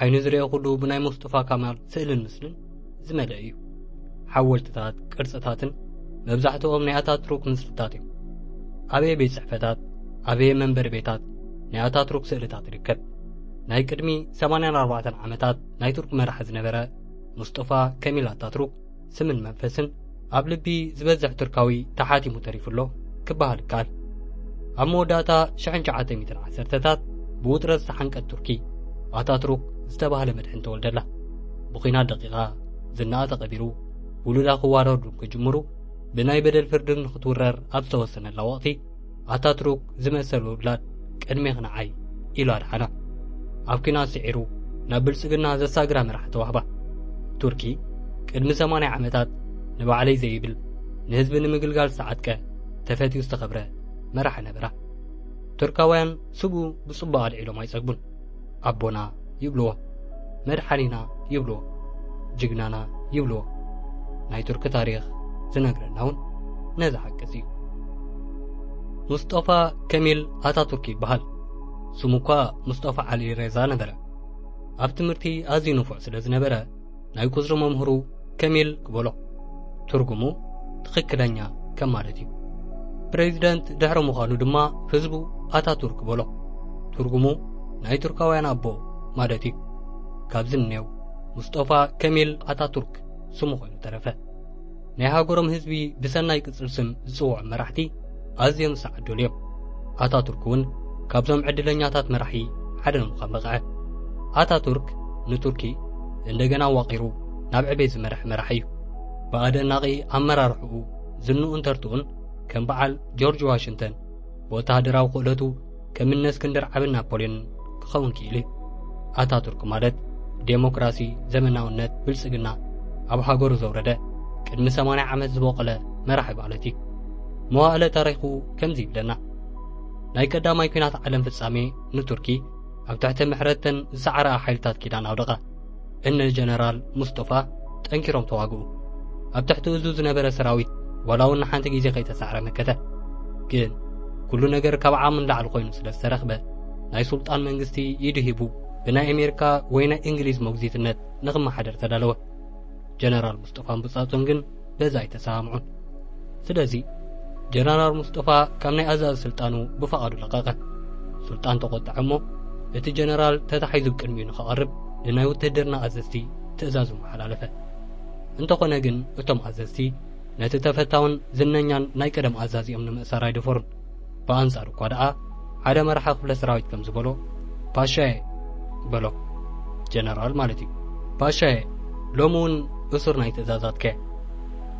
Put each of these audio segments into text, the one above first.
ዓይኑ ዝርኦ ኩሉ ብናይ ሙስጡፋ ካማል ስእልን ምስልን ዝመልአ እዩ ሓወልትታት ቅርፅታትን መብዛሕትኦም ናይ ኣታትሩክ ምስልታት እዮም ኣበየ ቤት ፅሕፈታት ኣበየ መንበሪ ቤታት ናይ ኣታትሩክ ስእልታት ይርከብ ናይ ቅድሚ 84 ዓመታት ናይ ቱርክ መራሒ ዝነበረ ሙስጦፋ ከሚል ኣታትሩክ ስምን መንፈስን ኣብ ልቢ ዝበዝሕ ቱርካዊ ተሓቲሙ ተሪፉ ኣሎ ክበሃል ይከኣል ኣብ መወዳእታ ሽሕን ሸዓተ ሚትን ዓሰርተታት ብውጥረት ዝተሓንቀት ቱርኪ ኣታትሩክ ዝተባህለ መድሕን ተወልደላ ብኲናት ደቂቓ ዝናኣ ተቐቢሩ ውሉዳ ክዋረዱ ክጅምሩ ብናይ በደል ፍርድን ንክትውረር ኣብ ዝተወሰነላ ወቕቲ ኣታትሩክ ዝመሰሉ ውላድ ቅድሜኽ ንዓይ ኢሉ ኣድሓና ኣብ ኲናት ስዒሩ ናብ ብልጽግና ዘሳግራ መርሓ ተዋህባ ቱርኪ ቅድሚ 80 ዓመታት ንባዕለይ ዘይብል ንህዝቢ ንምግልጋል ዝተዓጥቀ ተፈትዩ ዝተኸብረ መራሒ ነበራ ቱርካውያን ስቡ ብጽቡቕ ኣልዒሎም ኣይጸግቡን ኣቦና ይብልዎ መድሓኒና ይብልዎ ጅግናና ይብልዎ ናይ ቱርኪ ታሪኽ ዝነግረና እውን ነዚ ሓቅስ እዩ ሙስጦፋ ከሚል ኣታቱርክ ይበሃል ስሙ እኳ ሙስጦፋ ዓሊ ሬዛ ነበረ ኣብ ትምህርቲ ኣዝዩ ንፉዕ ስለ ዝነበረ ናይ ቁጽሪ መምህሩ ከሚል ክበሎ ትርጉሙ ትኽክለኛ ከም ማለት እዩ። ፕሬዚደንት ድሕሪ ምዃኑ ድማ ህዝቡ ኣታቱርክ በሎ ትርጉሙ ናይ ቱርካውያን ኣቦ ማለት እዩ። ካብዚ እኔው ሙስጦፋ ከሚል ኣታቱርክ ስሙ ኮይኑ ተረፈ። ናይ ሃገሮም ህዝቢ ብሰናይ ቅጽል ስም ዝጽውዑ መራሕቲ ኣዝዮም ዝሰዓዱሉ እዮም። ኣታቱርክ እውን ካብዞም ዕድለኛታት መራሒ ሓደ ንምዃን በቕዐ። ኣታቱርክ ንቱርኪ እንደገና ዋቒሩ ናብ ዕቤት ዝመርሐ መራሒ እዩ። ብኣደናቒ ኣመራርሕኡ ዝንኡን ተርትኡን ከም በዓል ጆርጅ ዋሽንተን ብወተሃደራዊ ክእለቱ ከም እነ እስክንድር ዓብን ናፖልዮን ክኸውን ክኢሉ እዩ ኣታቱርክ ማለት ዴሞክራሲ ዘመናውነት ብልጽግና ኣብ ሃገሩ ዘውረደ ቅድሚ 80 ዓመት ዝበቆለ መራሒ ማለት እዩ መዋእለ ታሪኹ ከምዚ ይብለና ናይ ቀዳማይ ኩናት ዓለም ፍጻሜ ንቱርኪ ኣብ ትሕቲ ምሕረተን ዝሰዓረኣ ሓይልታት ኪዳን ኣውደቐ እነ ጀነራል ሙስጦፋ ጠንኪሮም ተዋግኡ ኣብ ትሕቲ እዙ ዝነበረ ሰራዊት ዋላ እውን ንሓንቲ ግዜ ከይተሳዕረ መከተ ግን ኩሉ ነገር ካብ ዓቕሚ ንላዕሊ ኮይኑ ስለ ዝተረኽበ ናይ ሱልጣን መንግስቲ ኢዱ ሂቡ ብናይ ኣሜሪካ ወይ ናይ እንግሊዝ መጉዚትነት ንክመሓደር ተዳለወ ጀነራል ሙስጦፋን ብጻጹን ግን በዚ ኣይተሰማምዑን። ስለዚ ጀነራል ሙስጠፋ ካብ ናይ ኣዛዚ ስልጣኑ ብፈቓዱ ለቐቐ። ሱልጣን ተቖጠዐ እሞ እቲ ጀነራል ተታሒዙ ቅድሚኡ ንኸቐርብ ንናይ ውትህድርና ኣዘዝቲ ትእዛዙ መሓላለፈ። እንተኾነ ግን እቶም ኣዘዝቲ ነቲ ተፈታውን ዝነኛን ናይ ቀደም ኣዛዚኦም ንምእሳር ኣይደፈሩን። ብኣንጻሩ እኳ ደኣ ሓደ መራሒ ክፍለ ሰራዊት ከም ዝበሎ ፓሻየ በሎ ጀነራል ማለት እዩ ፓሻየ ሎሚ እውን እሱር ናይ ትእዛዛትከ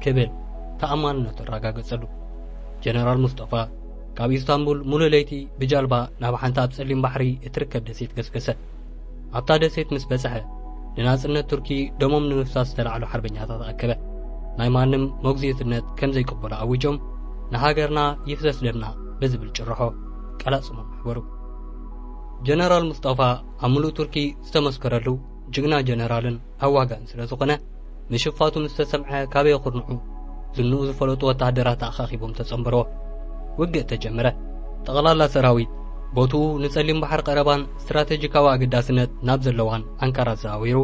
ክብል ተኣማንነቱ ኣረጋገጸሉ ጀነራል ሙስጠፋ ካብ ኢስታንቡል ሙሉእ ለይቲ ብጃልባ ናብ ሓንቲ ኣብ ጸሊም ባሕሪ እትርከብ ደሴት ገስገሰ ኣብታ ደሴት ምስ በጽሐ ንናጽነት ቱርኪ ደሞም ንምፍሳስ ዝተላዕሉ ሓርበኛታት ኣከበ ናይ ማንም መጉዝይትነት ከም ዘይቅበሉ ኣዊጆም ንሃገርና ይፍሰስ ደምና ብዝብል ጭርሖ ቀላጽሞም ኣሕበሩ ጀነራል ሙስጠፋ ኣብ ምሉእ ቱርኪ ዝተመስከረሉ ጅግና ጀነራልን ኣዋጋን ስለ ዝኾነ ምሽፋቱ ምስ ተሰምዐ ካበይ ኩርንዑ ዝንኡ ዝፈለጡ ወተሃደራት ኣኻኺቦም ተጸንበርዎ። ውግእ ተጀመረ። ጠቕላላ ሰራዊት ቦትኡ ንጸሊም ባሕር ቀረባን ስትራተጂካዊ ኣገዳስነት ናብ ዘለዋን ኣንካራ ኣዘዋዊሩ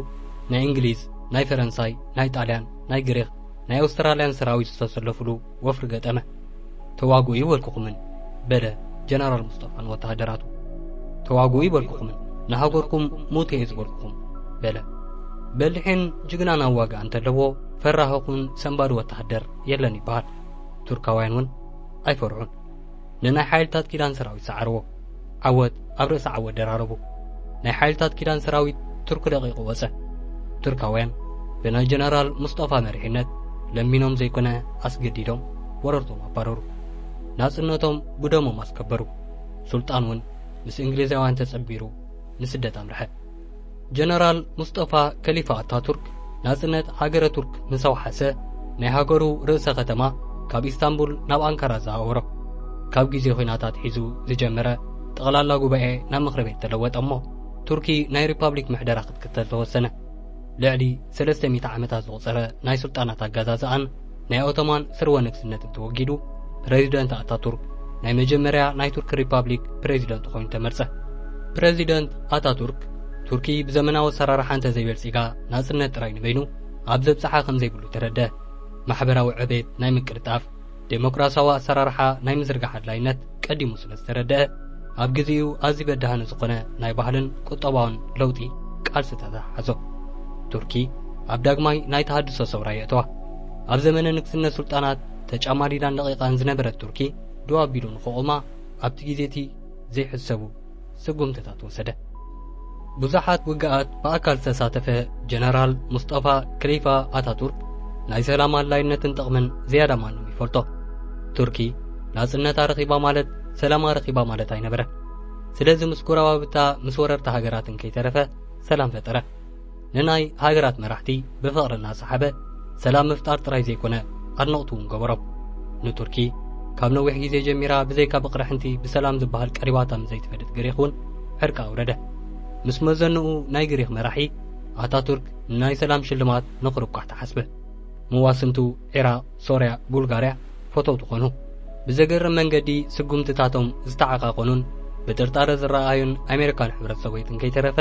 ናይ እንግሊዝ፣ ናይ ፈረንሳይ፣ ናይ ጣልያን፣ ናይ ግሪኽ፣ ናይ ኣውስትራልያን ሰራዊት ዝተሰለፍሉ ወፍሪ ገጠመ። ተዋግኡ ይበልኩኹምን በለ ጀነራል ሙስጠፋ ንወተሃደራቱ። ተዋግኡ ይበልኩኹምን ንሃገርኩም ሙተ እየ ዝበልኩኹም በለ። በሊሕን ጅግናን ኣዋግኣ እንተለዎ ፈራህኹን ሰንባዲ ወተሃደር የለን ይበሃል። ቱርካውያን እውን ኣይፈርሑን። ንናይ ሓይልታት ኪዳን ሰራዊት ሰዓርዎ። ዓወት ኣብ ርእሲ ዓወት ደራረቡ። ናይ ሓይልታት ኪዳን ሰራዊት ቱርክ ደቂቑ ወጸ። ቱርካውያን ብናይ ጀነራል ሙስጠፋ መሪሕነት ለሚኖም ዘይኮነ ኣስገዲዶም ወረርቶም ኣባረሩ። ናጽነቶም ብደሞም ኣስከበሩ። ሱልጣን እውን ምስ እንግሊዛውያን ተጸንቢሩ ንስደት ኣምርሐ። ጀነራል ሙስጠፋ ከሊፋ ኣታቱርክ ናጽነት ሃገረ ቱርክ ምስ ኣውሓሰ ናይ ሃገሩ ርእሰ ከተማ ካብ ኢስታንቡል ናብ ኣንካራ ዘኣወሮ ካብ ግዜ ኹናት ኣትሒዙ ዝጀመረ ጠቕላላ ጉባኤ ናብ ምኽሪ ቤት ተለወጠ እሞ ቱርኪ ናይ ሪፓብሊክ ምሕደራ ክትክተል ተወሰነ። ልዕሊ ሰለስተ ሚእቲ ዓመታት ዘቑጸረ ናይ ስልጣናት ኣገዛዝኣን ናይ ኦቶማን ስርወ ንግስነትን ተወጊዱ ፕረዚደንት ኣታቱርክ ናይ መጀመርያ ናይ ቱርኪ ሪፓብሊክ ፕረዚደንት ኮይኑ ተመርጸ። ፕረዚደንት ኣታቱርክ ቱርኪ ብዘመናዊ ኣሰራርሓ እንተዘይበልጺጋ ናጽነት ጥራይ ንበይኑ ኣብ ዘብጽሓ ከም ዘይብሉ ተረድኣ። ማሕበራዊ ዕቤት ናይ ምቅልጣፍ፣ ደሞክራስያዊ ኣሰራርሓ ናይ ምዝርጋሕ ኣድላይነት፣ ቀዲሙ ስለ ዝተረደኣ ኣብ ግዜኡ ኣዝዩ በዳህኒ ዝኾነ ናይ ባህልን ቁጠባውን ለውጢ ቃልሲ ተተሓሓዞ። ቱርኪ ኣብ ዳግማይ ናይ ተሃድሶ ሰውራ የእተዋ። ኣብ ዘመነ ንግስነት ሱልጣናት ተጫማዲዳን ደቂቃን ዝነበረት ቱርኪ ደው ኣቢሉ ንክቆማ ኣብቲ ግዜቲ ዘይሕሰቡ ስጉምትታት ወሰደ። ብዙሓት ውግኣት ብኣካል ዝተሳተፈ ጀነራል ሙስጠፋ ክሊፋ ኣታቱርክ ናይ ሰላም ኣድላይነትን ጥቕምን ዝያዳ ማንም ይፈልጦ። ቱርኪ ናጽነት ኣረኺባ ማለት ሰላም ኣረኺባ ማለት ኣይነበረ። ስለዚ ምስ ጎረባብታ ምስ ወረርቲ ሃገራትን ከይተረፈ ሰላም ፈጠረ። ንናይ ሃገራት መራሕቲ ብፍቕሪ እናሰሓበ ሰላም ምፍጣር ጥራይ ዘይኮነ ኣድነቕቱ እውን ገበሮ ንቱርኪ ካብ ነዊሕ ግዜ ጀሚራ ብዘይካ ብቕርሕንቲ ብሰላም ዝበሃል ቀሪባታ ምዘይትፈልጥ ግሪኽ እውን ዕርቂ ኣውረደ ምስ መዘንኡ ናይ ግሪኽ መራሒ ኣታቱርክ ንናይ ሰላም ሽልማት ንኽርቋሕ ተሓስበ መዋስንቱ ዒራቕ ሶርያ ቡልጋርያ ፈተውቲ ኮኑ። ብዘገርም መንገዲ ስጉምትታቶም ዝተዓቃቆኑን ብጥርጣረ ዝረኣኣዩን ኣሜሪካን ሕብረት ሶቬትን ከይተረፈ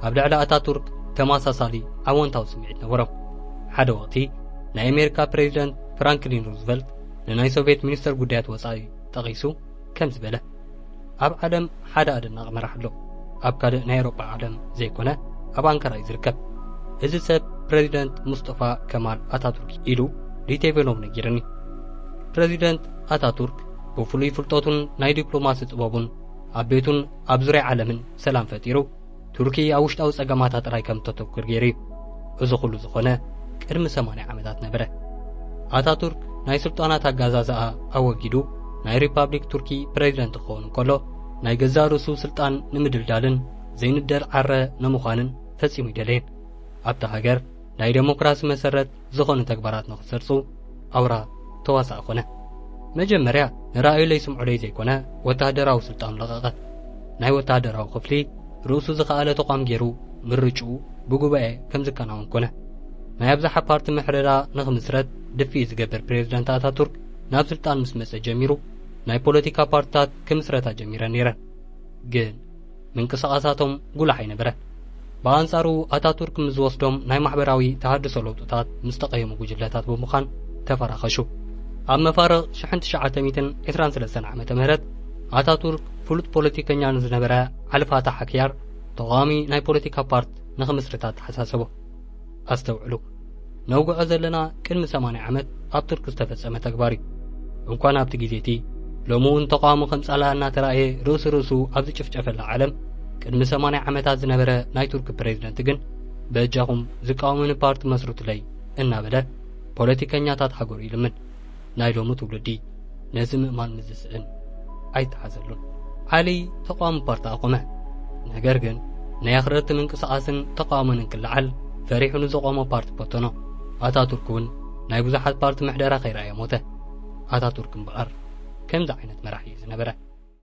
ኣብ ልዕሊ ኣታቱርክ ተመሳሳሊ ኣወንታዊ ስምዒት ነበሮም። ሓደ ወቅቲ ናይ ኣሜሪካ ፕሬዚደንት ፍራንክሊን ሩዝቨልት ንናይ ሶቬት ሚኒስተር ጉዳያት ወጻኢ ጠቂሱ፣ ከምዚ በለ፣ ኣብ ዓለም ሓደ ኣደናቂ መራሕ ኣሎ፣ ኣብ ካልእ ናይ ኤውሮጳ ዓለም ዘይኮነ ኣብ ኣንካራ እዩ ዝርከብ። እዚ ሰብ ፕረዚደንት ሙስጠፋ ከማል ኣታቱርክ እዩ ኢሉ ሊቴቬኖቭ ነጊርኒ። ፕረዚደንት ኣታቱርክ ብፍሉይ ፍልጠቱን ናይ ዲፕሎማሲ ጥበቡን ኣብ ቤቱን ኣብ ዙርያ ዓለምን ሰላም ፈጢሩ ቱርኪ ኣብ ውሽጣዊ ጸገማታ ጥራይ ከም እተተኩር ገይሩ እዩ። እዚ ኩሉ ዝኾነ ቅድሚ ሰማንያ ዓመታት ነበረ። ኣታቱርክ ናይ ስልጣናት ኣጋዛዝኣ ኣወጊዱ ናይ ሪፓብሊክ ቱርኪ ፕረዚደንት ክኸውን እንከሎ ናይ ገዛእ ርእሱ ስልጣን ንምድልዳልን ዘይንደል ዓረ ንምዃንን ፈጺሙ ኣይደለየን። ኣብታ ሃገር ናይ ደሞክራሲ መሰረት ዝኾኑ ተግባራት ንኽሰርጹ ኣውራ ተዋሳኢ ኮነ። መጀመርያ ንራእዩለይ ስምዑለይ ዘይኮነ ወተሃደራዊ ስልጣኑ ለቐቐ። ናይ ወተሃደራዊ ክፍሊ ርእሱ ዝኸኣለ ተቋም ገይሩ ምርጭኡ ብጉባኤ ከም ዝከናወን ኮነ። ናይ ኣብዝሓ ፓርቲ ምሕደራ ንኽምስረት ድፍኢት ዝገብር ፕሬዝዳንት ኣታቱርክ ናብ ስልጣን ምስ መጸ ጀሚሩ ናይ ፖለቲካ ፓርትታት ክምስረታ ጀሚረን ነይረን። ግን ምንቅስቓሳቶም ጉሉሕ ኣይነበረን። ብኣንጻሩ ኣታቱርክ ምስ ዝወስዶም ናይ ማሕበራዊ ተሃድሶ ለውጥታት ምስ ተቐየሙ ጉጅለታት ብምዃን ተፈራኸሹ። ኣብ መፋርቕ ሽሕን ትሽዓተ ሚእትን ዕስራን ሰለስተን ዓመተ ምህረት ኣታቱርክ ፍሉጥ ፖለቲከኛ ንዝነበረ ዓሊ ፋታሕ ኣክያር ተቓዋሚ ናይ ፖለቲካ ፓርት ንኽምስርት ኣተሓሳሰቦ። ኣስተውዕሉ ነውግዖ ዘለና ቅድሚ 80 ዓመት ኣብ ቱርክ ዝተፈጸመ ተግባር እዩ እንኳን ኣብቲ ግዜ እቲ ሎሚ እውን ተቃዋሚ ከም ጻላ እናተራእየ ርእሱ ርእሱ ኣብ ዝጭፍጨፈላ ዓለም ቅድሚ 80 ዓመታት ዝነበረ ናይ ቱርክ ፕሬዚደንት ግን በጃኹም ዝቃወምኒ ፓርቲ መስርቱለይ እናበለ ፖለቲከኛታት ሃገሩ ይልምን ናይ ሎሚ ትውልዲ ነዚ ምእማን ምስ ዝስእን ኣይተሓዘሉን። ዓሊ ተቃዋሚ ፓርቲ ኣቆመ። ነገር ግን ናይ ኣኽረርቲ ምንቅስቓስን ተቃውሞን እንክለዓል ፈሪሑ ንዘቆሞ ፓርቲ በተኖ። ኣታቱርክ እውን ናይ ብዙሓት ፓርቲ ምሕደራ ከይረኣየ ሞተ። ኣታቱርክ እምበኣር ከምዚ ዓይነት መራሒ እዩ ዝነበረ።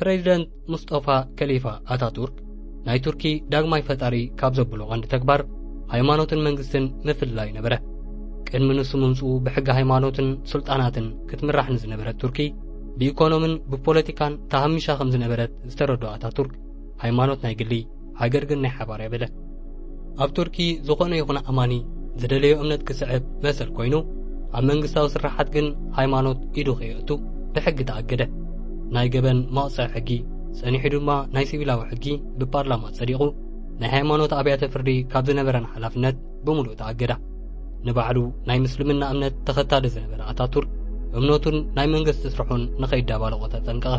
ፕሬዚደንት ሙስጦፋ ከሊፋ ኣታቱርክ ናይ ቱርኪ ዳግማይ ፈጣሪ ካብ ዘብሎ ቀንዲ ተግባር ሃይማኖትን መንግስትን ምፍላይ ነበረ ቅድሚ ንሱ ምምፅኡ ብሕጊ ሃይማኖትን ስልጣናትን ክትምራሕ ንዝነበረት ቱርኪ ብኢኮኖምን ብፖለቲካን ተሃሚሻ ከም ዝነበረት ዝተረድኦ ኣታቱርክ ሃይማኖት ናይ ግሊ ሃገር ግን ናይ ሓባር እያ በለ። ኣብ ቱርኪ ዝኾነ ይኹን ኣማኒ ዝደለዮ እምነት ክስዕብ መሰል ኮይኑ ኣብ መንግስታዊ ስራሓት ግን ሃይማኖት ኢዱ ከየእቱ ብሕጊ ተኣገደ። ናይ ገበን መቕጽዒ ሕጊ ጸኒሑ ድማ ናይ ሲቪላዊ ሕጊ ብፓርላማ ጸዲቑ ናይ ሃይማኖት ኣብያተ ፍርዲ ካብ ዝነበረን ሓላፍነት ብምሉእ ተኣገዳ ንባዕሉ ናይ ምስልምና እምነት ተኸታሊ ዝነበረ ኣታቱርክ እምነቱን ናይ መንግስቲ ስርሑን ንኸይዳባለቖ ተጠንቀቐ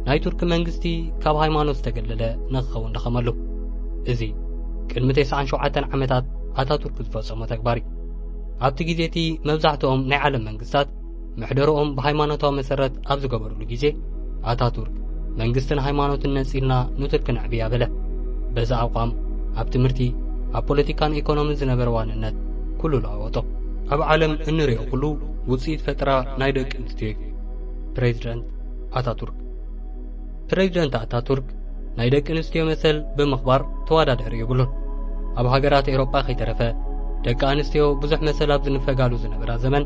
ናይ ቱርኪ መንግስቲ ካብ ሃይማኖት ዝተገለለ ንክኸውን ደኸመሉ እዚ ቅድሚ 97 ዓመታት ኣታቱርክ ዝፈጸሞ ተግባር እዩ ኣብቲ ግዜ እቲ መብዛሕትኦም ናይ ዓለም መንግስታት ምሕደርኦም ብሃይማኖታዊ መሰረት ኣብ ዝገበርሉ ግዜ ኣታቱርክ መንግስትን ሃይማኖትን ነጺልና ንቱርክ ነዕብያ በለ በዚ ኣቋም ኣብ ትምህርቲ ኣብ ፖለቲካን ኢኮኖምን ዝነበረ ዋንነት ኩሉ ለዋወጦ ኣብ ዓለም እንሪኦ ኩሉ ውፅኢት ፈጠራ ናይ ደቂ ኣንስትዮ እዩ ፕሬዚደንት ኣታቱርክ ፕረዚደንት ኣታቱርክ ናይ ደቂ ኣንስትዮ መሰል ብምኽባር ተወዳዳሪ የብሉን። ኣብ ሃገራት ኤውሮጳ ከይተረፈ ደቂ ኣንስትዮ ብዙሕ መሰል ኣብ ዝንፈጋሉ ዝነበራ ዘመን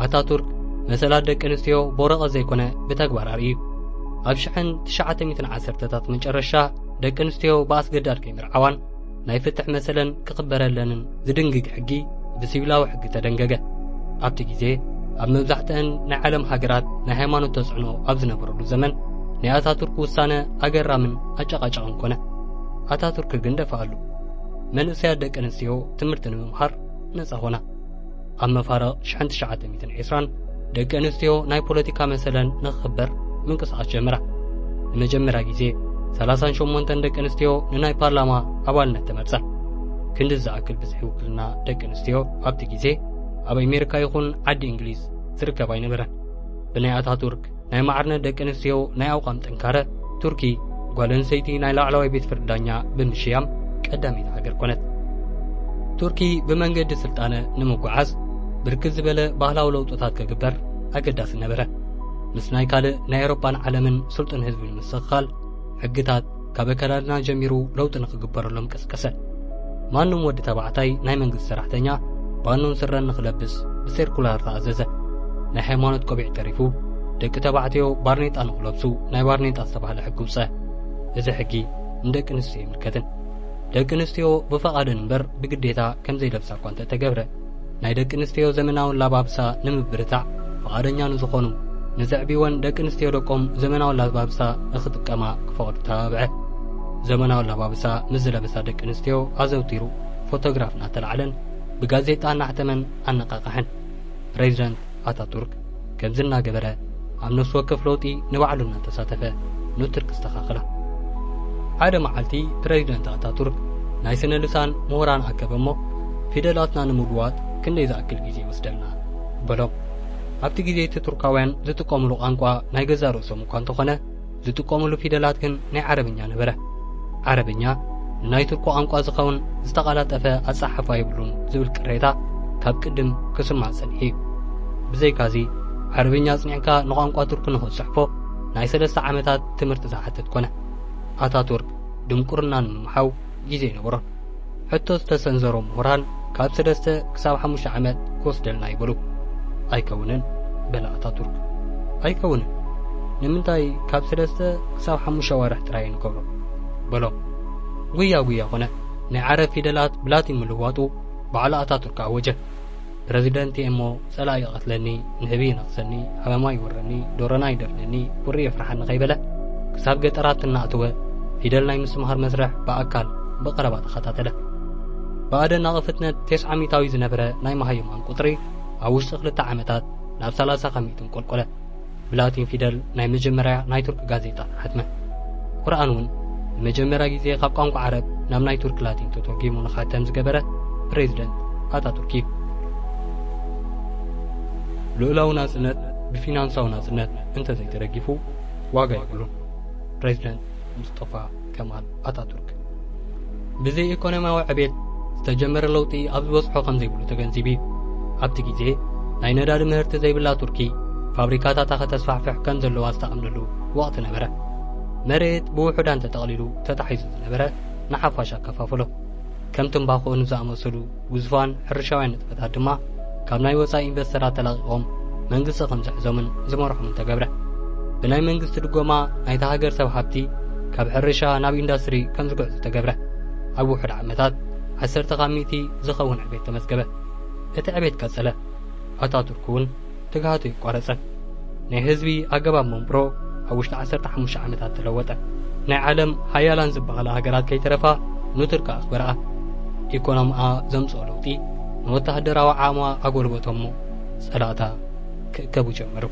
ኣታቱርክ መሰላት ደቂ ኣንስትዮ ብወረቐት ዘይኮነ ብተግባር ኣርእዩ። ኣብ ሽሕን ትሽዓተ ሚእትን ዓሰርተታት መጨረሻ ደቂ ኣንስትዮ ብኣስገዳድ ከይምርዓዋን ናይ ፍትሕ መሰለን ክኽበረለንን ዝድንግግ ሕጊ ብሲቪላዊ ሕጊ ተደንገገ። ኣብቲ ግዜ ኣብ መብዛሕትአን ናይ ዓለም ሃገራት ናይ ሃይማኖት ተጽዕኖ ኣብ ዝነበረሉ ዘመን ናይ ኣታቱርክ ውሳነ ኣገራምን ኣጨቓጫቕን ኮነ። ኣታቱርክ ግን ደፋኣሉ። መንእሰያት ደቂ ኣንስትዮ ትምህርቲ ንምምሃር ነጻ ኮና። ኣብ መፋርቕ ሽሕን ትሽዓተ ሚእትን ዒስራን ደቂ ኣንስትዮ ናይ ፖለቲካ መሰለን ንኽኽበር ምንቅስቓስ ጀመራ። ንመጀመርያ ግዜ ሰላሳን ሸሞንተን ደቂ ኣንስትዮ ንናይ ፓርላማ ኣባልነት ተመርጸ። ክንዲ ዝኣክል ብዝሒ ውክልና ደቂ ኣንስትዮ ኣብቲ ግዜ ኣብ ኣሜሪካ ይኹን ዓዲ እንግሊዝ ዝርከብ ኣይነበረን። ብናይ ኣታቱርክ ናይ ማዕርነት ደቂ ኣንስትዮ ናይ ኣቋም ጥንካረ ቱርኪ ጓል ኣንስተይቲ ናይ ላዕለዋይ ቤት ፍርዲ ዳኛ ብምሽያም ቀዳመይቲ ሃገር ኮነት። ቱርኪ ብመንገዲ ስልጣነ ንምጉዓዝ ብርክት ዝበለ ባህላዊ ለውጥታት ክግበር ኣገዳሲ ነበረ። ምስ ናይ ካልእ ናይ ኤውሮጳን ዓለምን ስልጡን ህዝቢ ንምስኽኻል ሕግታት ካብ ኣከዳድና ጀሚሩ ለውጢ ንኽግበረሎም ቀስቀሰ። ማንም ወዲ ተባዕታይ ናይ መንግስቲ ሰራሕተኛ ባኖን ስረን ንኽለብስ ብሴርኩላር ተኣዘዘ። ናይ ሃይማኖት ቆቢዕ ተሪፉ ደቂ ተባዕትዮ ባርኔጣ ንኽለብሱ ናይ ባርኔጣ ዝተባህለ ሕጊ ውፀ። እዚ ሕጊ ንደቂ ኣንስትዮ ኣይምልከትን። ደቂ ኣንስትዮ ብፈቓደን እምበር ብግዴታ ከምዘይለብሳ እኳ እንተተገብረ ናይ ደቂ ኣንስትዮ ዘመናዊ ኣላባብሳ ንምብርታዕ ፍቓደኛ ንዝኾኑ ንዘዕብይወን ደቂ ኣንስትዮ ደቆም ዘመናዊ ኣላባብሳ ንኽጥቀማ ክፈቕዱ ተባብዐ። ዘመናዊ ኣላባብሳ ምስ ዝለበሳ ደቂ ኣንስትዮ ኣዘውቲሩ ፎቶግራፍ እናተላዕለን ብጋዜጣ እናሕተመን ኣነቓቕሐን። ፕረዚደንት ኣታቱርክ። ከምዚ እናገበረ ኣብ ነፍሲ ወከፍ ለውጢ ንባዕሉ እናተሳተፈ ንቱርክ ኣስተኻኸላ። ሓደ መዓልቲ ፕረዚደንት ኣታቱርክ ናይ ስነ ልሳን ምሁራን ኣከበ እሞ ፊደላትና ንምልዋጥ ክንደይ ዝኣክል ግዜ ይወስደልና? በሎም። ኣብቲ ግዜ እቲ ቱርካውያን ዝጥቀሙሉ ቛንቋ ናይ ገዛእ ርእሶም እኳ እንተኾነ ዝጥቀሙሉ ፊደላት ግን ናይ ዓረብኛ ነበረ። ዓረብኛ ንናይ ቱርኪ ቋንቋ ዝኸውን ዝተቓላጠፈ ኣጸሓሕፋ የብሉን ዝብል ቅሬታ ካብ ቅድም ክስማዕ ጸኒሑ እዩ። ብዘይካዚ ዓረብኛ ኣጽኒዕካ ንቋንቋ ቱርኪ ንኽትጽሕፎ ናይ ሰለስተ ዓመታት ትምህርቲ ዝሓትት ኮነ። ኣታቱርክ ድንቁርና ንምምሓው ግዜ ነበሮ። ሕቶ ዝተሰንዘሮ ምሁራን ካብ ሰለስተ ክሳብ ሓሙሽተ ዓመት ክወስደልና እዩ በሉ። ኣይከውንን በለ ኣታቱርክ። ኣይከውንን ንምንታይ ካብ ሰለስተ ክሳብ ሓሙሽተ ኣዋርሕ ጥራይ ንገብሮ በሎም። ጉያ ጉያ ኮነ። ናይ ዓረብ ፊደላት ብላቲን ምልዋጡ ባዕሉ ኣታቱርክ ኣወጀ። ፕረዚደንት እየ እሞ ጸላኢ ይቐትለኒ፣ ንህቢ ይነኽሰኒ፣ ሃመማ ይወረኒ፣ ዶሮና ይደፍነኒ፣ ቁሪ የፍርሓኒ ከይበለ ክሳብ ገጠራት እናኣተወ ፊደል ናይ ምስምሃር መስርሕ ብኣካል ብቐረባ ተኸታተለ። ብኣደን ኣቕፍትነት ቴስዓ ሚእታዊ ዝነበረ ናይ መሃይማን ቁጽሪ ኣብ ውሽጢ ክልተ ዓመታት ናብ ሰላሳ ካብ ሚእቲ እንቆልቆለ። ብላቲን ፊደል ናይ መጀመርያ ናይ ቱርክ ጋዜጣ ሓትመ። ቁርኣን እውን ንመጀመርያ ግዜ ካብ ቋንቋ ዓረብ ናብ ናይ ቱርክ ላቲን ተተርጒሙ ንኻተም ዝገበረ ፕረዚደንት ኣታቱርክ እዩ። ልኡላዊ ናጽነት ብፊናንሳዊ ናጽነት እንተዘይተደጊፉ ዋጋ የብሉን፣ ፕረዚደንት ሙስጠፋ ከማል ኣታቱርክ ብዘይ ኢኮኖሚያዊ ዕቤት ዝተጀመረ ለውጢ ኣብ ዝበጽሖ ከም ዘይብሉ ተገንዚቡ እዩ። ኣብቲ ግዜ ናይ ነዳዲ ምህርቲ ዘይብላ ቱርኪ ፋብሪካታታ ከተስፋሕፍሕ ከም ዘለዋ ዝተኣምነሉ ወቕቲ ነበረ። መሬት ብውሑዳን ተጠቕሊሉ ተታሒዙ ዝነበረ ንሓፋሽ ኣከፋፈሎ። ከም ትምባኾ ንዝኣመሰሉ ግዙፋን ሕርሻውያን ንጥፈታት ድማ ካብ ናይ ወጻኢ ኢንቨስተራት ተላቒቖም መንግስቲ ከም ዝሕዞምን ዝመርሖምን ተገብረ። ብናይ መንግስቲ ድጎማ ናይታ ሃገር ሰብ ሃብቲ ካብ ሕርሻ ናብ ኢንዳስትሪ ከም ዝግዕዙ ተገብረ። ኣብ ውሑድ ዓመታት ዓሰርተ ካብ ሚእቲ ዝኸውን ዕቤት ተመዝገበ። እቲ ዕቤት ቀጸለ። ኣታቱርክ እውን ትግሃቱ ይቋረጸ። ናይ ህዝቢ ኣገባብ መንብሮ ኣብ ውሽጢ ዓሰርተ ሓሙሽተ ዓመታት ተለወጠ። ናይ ዓለም ሃያላን ዝበሃላ ሃገራት ከይተረፋ ኑትርክ ኣኽበርኣ። ኢኮኖምኣ ዘምጽኦ ለውጢ ንወተሃደራዊ ዓቕማ ኣጎልበቶ'ሞ ጸላእታ ክእከቡ ጀመሩ።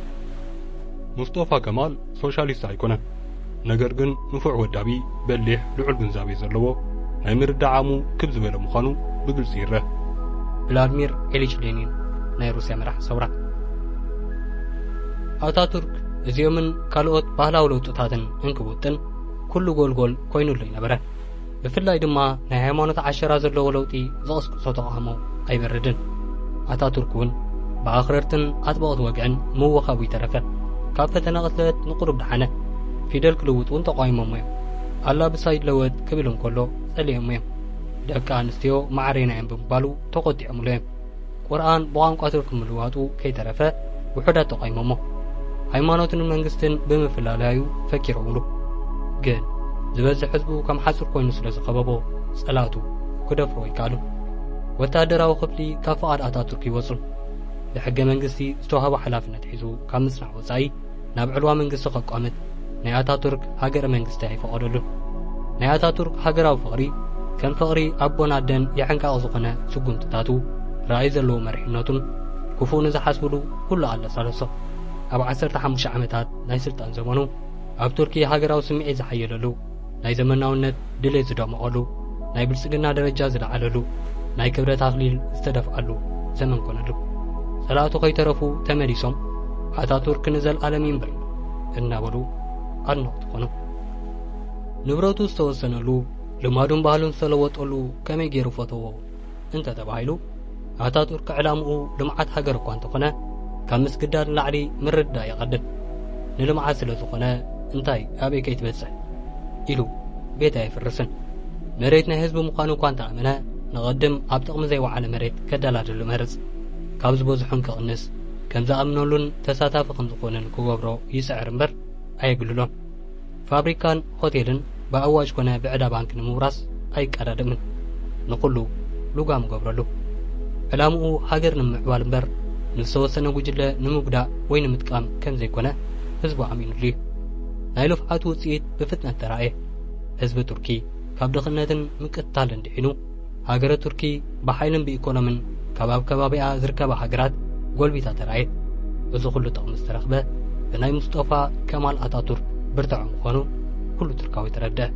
ሙስጦፋ ከማል ሶሻሊስት ኣይኮነን ነገር ግን ንፉዕ ወዳቢ በሊሕ ልዑል ግንዛቤ ዘለዎ ናይ ምርዳእ ዓቕሙ ክብ ዝበለ ምዃኑ ብግልጺ ይረእ። ቭላድሚር ዒሊች ሌኒን ናይ ሩስያ መራሒ ሰውራ። ኣታቱርክ እዚኦምን ካልኦት ባህላዊ ለውጥታትን እንክውጥን ኩሉ ጎልጎል ኮይኑሉ ይነበረ። ብፍላይ ድማ ናይ ሃይማኖት ዓሸራ ዘለዎ ለውጢ ዝቕስቅሶ ተቓውሞ ኣይበረድን። ኣታቱርክ እውን ብኣኽረርትን ኣጥበቕቲ ወግዕን ምውኻቡ ይተረፈ ካብ ፈተነ ቅትለት ንቁሩብ ደሓነ። ፊደል ክልውጥ እውን ተቋይሞሞ እዮም። ኣላብሳ ይለወጥ ክብል እንከሎ ጸሊኦሞ እዮም። ደቂ ኣንስትዮ ማዕሬና እየን ብምባሉ ተቖጢዖምሉ እዮም። ቁርኣን ብቋንቋ ቱርኪ ምልዋጡ ከይተረፈ ውሑዳት ተቋይሞሞ ሃይማኖትን መንግስትን ብምፍላላዩ ፈኪረውሉ ግን ዝበዝሕ ህዝቡ ከም ሓጹር ኮይኑ ስለ ዝኸበቦ ጸላቱ ክደፍሮ ይከኣሉ ወተሃደራዊ ክፍሊ ካብ ፍቓድ ኣታቱርክ ይወጹን ብሕገ መንግስቲ ዝተዋህቦ ሓላፍነት ሒዙ ካብ ምጽናዕ ወጻኢ ናብ ዕልዋ መንግስቲ ከቋምት ናይ ኣታቱርክ ሃገረ መንግስቲ ኣይፈቐደሉን። ናይ ኣታቱርክ ሃገራዊ ፍቕሪ ከም ፍቕሪ ኣቦን ኣደን የሕንቃቕ ዝኾነ ስጉምትታቱ፣ ራእይ ዘለዎ መሪሕነቱን ክፉእ ንዝሓስብሉ ኩሉ ኣለሳለሶ። ኣብ ዓሰርተ ሓሙሽተ ዓመታት ናይ ስልጣን ዘመኑ ኣብ ቱርኪ ሃገራዊ ስምዒት ዝሓየለሉ፣ ናይ ዘመናውነት ድሌት ዝደመቐሉ፣ ናይ ብልጽግና ደረጃ ዝለዓለሉ፣ ናይ ክብረት ኣኽሊል ዝተደፍኣሉ ዘመን ኮነሉ። ጸላእቱ ከይተረፉ ተመሊሶም ኣታቱርክ ንዘልኣለም ይንበር እናበሉ ኣድነቕቲ ኮኑ። ንብረቱ ዝተወሰነሉ፣ ልማዱን ባህሉን ዝተለወጠሉ ከመይ ገይሩ ፈተዎ? እንተ ተባሂሉ ኣታቱርክ ዕላምኡ ልምዓት ሃገር እኳ እንተኾነ ካብ ምስግዳድ ንላዕሊ ምርድዳእ ይቐድም ንልምዓት ስለ ዝኾነ እንታይ ኣበይ ከይትበጽሕ ኢሉ ቤት ኣየፍርስን መሬት ናይ ህዝቢ ምዃኑ እኳ እንተኣመነ ንቐድም ኣብ ጥቕሚ ዘይወዓለ መሬት ከደላድሉ መርጽ ካብ ዝበዝሑን ክቕንስ ከም ዝኣምነሉን ተሳታፊ ከም ዝኾንን ክገብሮ ይጽዕር እምበር ኣየግልሎን ፋብሪካን ሆቴልን ብኣዋጅ ኮነ ብዕዳ ባንኪ ንምውራስ ኣይቀዳደምን። ንኹሉ ሉጋም ገብረሉ። ዕላምኡ ሃገር ንምምዕባል እምበር ንዝተወሰነ ጉጅለ ንምጉዳእ ወይ ንምጥቃም ከም ዘይኮነ ህዝቡ ኣሚኑሉ እዩ። ናይ ልፍዓቱ ውጽኢት ብፍጥነት ተራእየ። ህዝቢ ቱርኪ ካብ ድኽነትን ምቅትታልን ድሒኑ ሃገረ ቱርኪ ብሓይልን ብኢኮኖምን ካብ ኣብ ከባቢኣ ዝርከባ ሃገራት ጎልቢታ ተራእየት። እዚ ኩሉ ጥቕሚ ዝተረኽበ ብናይ ሙስጦፋ ከማል ኣታቱርክ ብርትዐ ምኾኑ ኩሉ ቱርካዊ ተረድአ።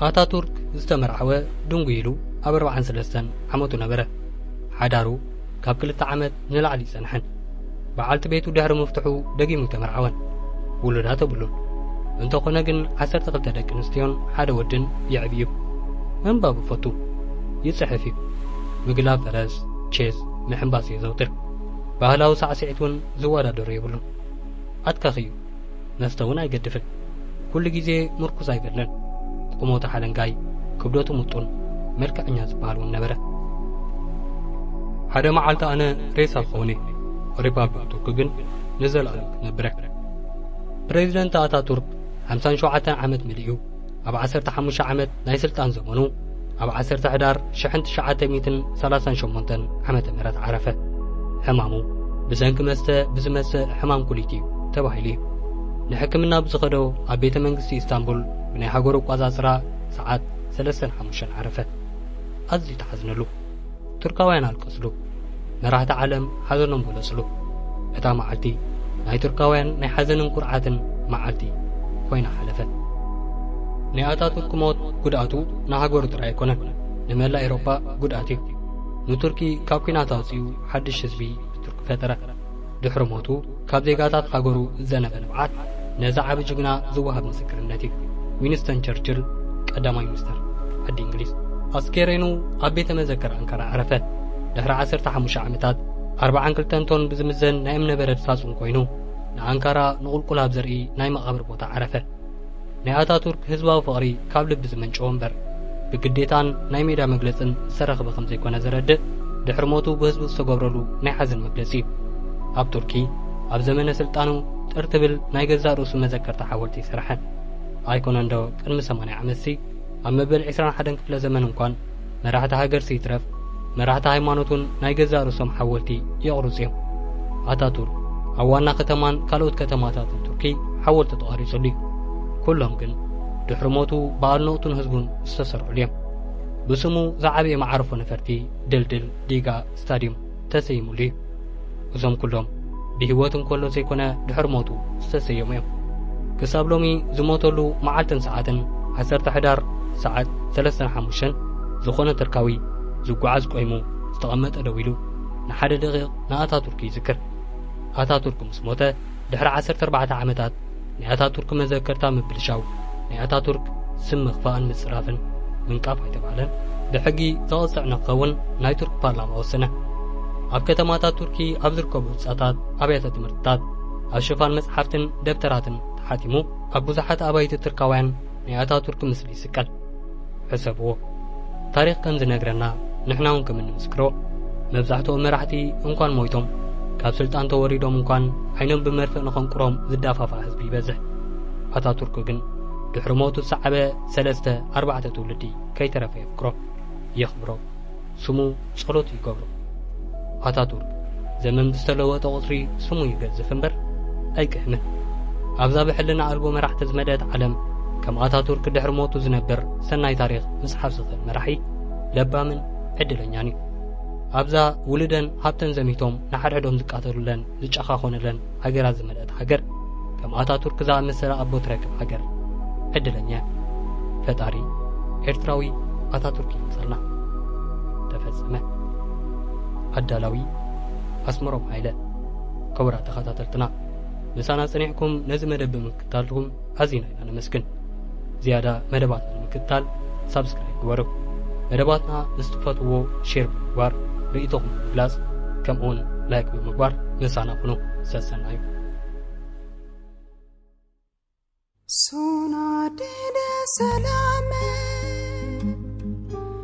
ኣታቱርክ ዝተመርዓወ ድንጉይ ኢሉ ኣብ ኣርብዓን ሰለስተን ዓመቱ ነበረ። ሓዳሩ ካብ ክልተ ዓመት ንላዕሊ ጸንሐን። በዓልቲ ቤቱ ድሕሪ ምፍትሑ ደጊሙ ተመርዓወን። ውሉዳት የብሉን። እንተኾነ ግን ዓሰርተ ክልተ ደቂ ኣንስትዮን ሓደ ወድን የዕቢ እዩ። ምንባብ ይፈቱ። ይጽሕፍ እዩ። ምግላብ ፈረስ፣ ቼዝ፣ ምሕንባስ የዘውትር። ባህላዊ ሳዕስዒት እውን ዝወዳደሮ የብሉን። ኣትካኺ እዩ። መስተውን ኣይገድፍን። ኩሉ ግዜ ምርኩስ ኣይበልንን። ቁመቱ ሓለንጋይ፣ ክብደቱ ምጡን፣ መልክዐኛ ዝበሃል እውን ነበረ። ሓደ መዓልቲ ኣነ ሬሳ ክኸውን እየ፣ ሪፓብሊክ ቱርኪ ግን ንዘለኣለም ክትነብረ። ፕሬዚደንት ኣታቱርክ ሓምሳን ሸውዓተን ዓመት መሊኡ። ኣብ ዓሰርተ ሓሙሽተ ዓመት ናይ ስልጣን ዘመኑ ኣብ ዓሰርተ ሕዳር ሽሕን ትሽዓተ ሚእትን ሰላሳን ሸሞንተን ዓመተ ምህረት ዓረፈ። ሕማሙ ብሰንኪ መስተ ብዝመጽእ ሕማም ኩሊት እዩ ተባሂሉ እዩ ንሕክምና ብዝኸዶ ኣብ ቤተ መንግስቲ ኢስታንቡል ብናይ ሃገሩ ኣቋጻጽራ ሰዓት ሰለስተን ሓሙሽተን ዓረፈ። ኣዝዩ ተሓዝነሉ። ቱርካውያን ኣልቀስሉ፣ መራህቲ ዓለም ሓዘኖም ገለጽሉ። እታ መዓልቲ ናይ ቱርካውያን ናይ ሓዘንን ኩርዓትን መዓልቲ ኮይና ሓለፈት። ናይ ኣታቱርክ ሞት ጉድኣቱ ንሃገሩ ጥራይ ኣይኮነን፣ ንመላእ ኤሮፓ ጉድኣት እዩ። ንቱርኪ ካብ ኩናት ኣውጺኡ ሓድሽ ህዝቢ ብቱርኪ ፈጠረ። ድሕሪ ሞቱ ካብ ዜጋታት ሃገሩ ዝዘነበ ንብዓት ነዚ ዓቢ ጅግና ዝወሃብ ምስክርነት እዩ። ዊንስተን ቸርችል ቀዳማይ ሚኒስተር ዓዲ እንግሊዝ። ኣስከሬኑ ኣብ ቤተ መዘክር ኣንካራ ኣዕረፈ። ድሕሪ ዓሰርተ ሓሙሽተ ዓመታት ኣርብዓን ክልተን ቶን ብዝምዘን ናይ እምነበረድ ሳጹን ኮይኑ ንኣንካራ ንቑልቁል ኣብ ዘርኢ ናይ መቓብር ቦታ ዓረፈ። ናይ ኣታቱርክ ህዝባዊ ፍቕሪ ካብ ልቢ ዝመንጨወ እምበር፣ ብግዴታን ናይ ሜዳ መግለጽን ዝተረኽበ ከም ዘይኮነ ዘረድእ፣ ድሕሪ ሞቱ ብህዝቡ ዝተገብረሉ ናይ ሓዘን መግለጺ እዩ። ኣብ ቱርኪ፣ ኣብ ዘመነ ስልጣኑ ጥር ትብል ናይ ገዛእ ርእሱ መዘከርታ ሓወልቲ ሰርሐ። ኣይኮነንዶ ቅድሚ ሰማንያ ዓመትሲ፣ ኣብ መበል ዕስራን ሓደን ክፍለ ዘመን እንኳን፣ መራሕቲ ሃገርሲ ይትረፍ መራሕቲ ሃይማኖት እውን ናይ ገዛእ ርእሶም ሓወልቲ የቕርጹ እዮም። ኣታቱርክ ኣብ ዋና ከተማን ካልኦት ከተማታትን ቱርኪ ሓወልቲ ተቐሪጹሉ እዩ። ኩሎም ግን ድሕሪ ሞቱ ብኣድነቕቱን ህዝቡን ዝተሰርዑሉ እዮም። ብስሙ ዝዓበየ መዓርፎ ነፈርቲ፣ ድልድል፣ ዲጋ፣ ስታድዩም ተሰይሙሉ እዩ። እዞም ኩሎም ብህይወት እንከሎ ዘይኮነ ድሕሪ ሞቱ ዝተሰየሙ እዮም። ክሳብ ሎሚ ዝሞተሉ መዓልትን ሰዓትን ዓሰርተ ሕዳር ሰዓት ሰለስተን ሓሙሽተን ዝኾነ ትርካዊ ዝጓዓዝ ቆይሙ ዝተቐመጠ ደው ኢሉ ንሓደ ደቒቕ ንኣታቱርክ ይዝክር። ኣታቱርክ ምስ ሞተ ድሕሪ ዓሰርተ ኣርባዕተ ዓመታት ናይ ኣታቱርክ መዘከርታ ምብልሻው፣ ናይ ኣታቱርክ ስም ምኽፋእን ምጽራፍን፣ ምንቃፍ ኣይተባህለን፣ ብሕጊ ዘቕጽዕ ንክኸውን ናይ ቱርክ ፓርላማ ወሰነ። ኣብ ከተማታት ቱርኪ ኣብ ዝርከቡ ህጻታት ኣብያተ ትምህርትታት ኣብ ሽፋን መጽሓፍትን ደብተራትን ተሓቲሙ ኣብ ብዙሓት ኣባይቲ ትርካውያን ናይ ኣታቱርክ ምስሊ ይስቀል። ሕሰብዎ ታሪኽ ከም ዝነግረና ንሕናውን ከም እንምስክሮ መብዛሕትኦም መራሕቲ እንኳን ሞይቶም ካብ ስልጣን ተወሪዶም እንኳን ዓይኖም ብመርፍእ ንኸንቁሮም ዝዳፋፋ ህዝቢ ይበዝሕ ኣታቱርክ ግን ድሕሪ ሞቱ ዝሰዓበ ሰለስተ ኣርባዕተ ትውልዲ ከይተረፈ የፍቅሮ የኽብሮ ስሙ ጸሎት ይገብሮ ኣታቱርክ ዘመን ብዝተለወጠ ቁጽሪ ስሙ ይገዝፍ እምበር ኣይቅህምን ኣብዛ ብሕልና ኣልቦ መራሕቲ ዝመልአት ዓለም ከም ኣታቱርክ ድሕሪ ሞቱ ዝነብር ሰናይ ታሪኽ ምጽሓፍ ዝኽእል መራሒ ለባምን ዕድለኛን እዩ ኣብዛ ውልደን ሃብተን ዘሚቶም ንሓድሕዶም ዝቃተሉለን ዝጨኻኾንለን ሃገራት ዝመልአት ሃገር ከም ኣታቱርክ ዝኣመሰለ ኣቦ ትረክብ ሃገር ዕድለኛ እያ። ፈጣሪ ኤርትራዊ ኣታቱርክ ይምጸልና። ተፈጸመ። ኣዳላዊ ኣስመሮም ሃይለ። ክቡራት ተኸታተልትና ምሳና ጸኒዕኩም ነዚ መደብ ብምክ ተኸታተልኩም ኣዚና ኢና ነመስግን። ዝያዳ መደባትና ንምክትታል ሳብስክራይብ ግበሩ። መደባትና ምስ ትፈትዎ ሼር ብምግባር ርእይቶኹም ብምግላጽ ከምኡውን ላይክ ብምግባር ምሳና ኩኑ። ሰሰናዩ Sona dine selame